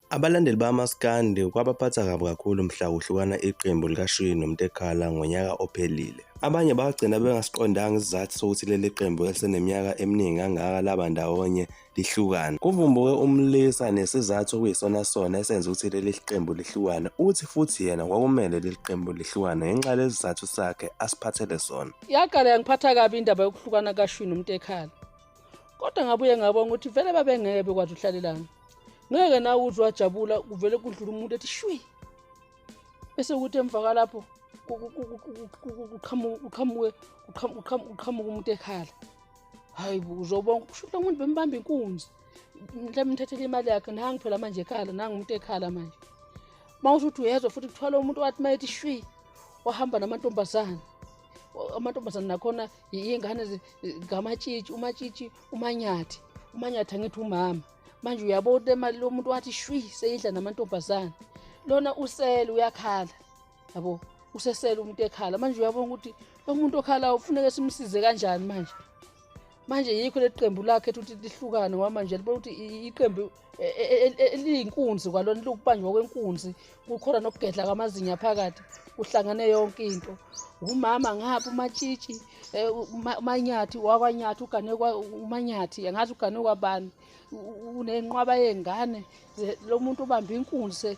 Abalandeli bamaskandi kwabaphatha kabi kakhulu mhla kuhlukana iqembu likashwiyi nomntekhala ngonyaka ophelile abanye bagcina bengasiqondanga isizathu sokuthi leli qembu eliseneminyaka eminingi kangaka laba ndawonye lihlukana kuvumbuke umlisa nesizathu okuyisona sona esenza ukuthi leli qembu lihlukane uthi futhi yena kwakumele leli qembu lihlukane ngenxa lesi sizathu sakhe asiphathele sona yaqala yangiphatha kabi indaba yokuhlukana kashwini umntekhala kodwa ngabuye ngabona ukuthi vele babengeke bekwazi uhlalelana ngeke nawe uze wajabula kuvele kudlula umuntu ethi shwi bese ukuthi emva kwalapho kuqhamuke umuntu ekhala hayi uzobona kusho ukuthi umuntu bembamba inkunzi mhlawumbe ngithathele imali yakhe nangi phela manje ekhala nangi umuntu ekhala manje uma usho ukuthi uyezwa futhi kuthwala umuntu wathi uma ethi shwi wahamba namantombazane amantombazane nakhona iy'ngane ngamatshitshi umatshitshi umanyathi umanyathi angithi umama manje uyabona imali lo muntu wathi shwi seyidla namantombazane lona usele uyakhala yabo usesele umuntu ekhala manje uyabona ukuthi lo muntu okhalayo ufuneke simsize kanjani manje manje yikho leli qembu lakhe ethi ukuthi lihlukane ngoba manje libona ukuthi iqembu e, e, e, eliyinkunzi kwalona lukubanjwa kwenkunzi kukhona nokugedla kwamazinya phakathi kuhlangane yonke into umama ngapha umatshitshi umanyathi wakwanyathi ugane umanyathi angazi ugane kwabani unenqwaba yengane lo muntu ubambe inkunzi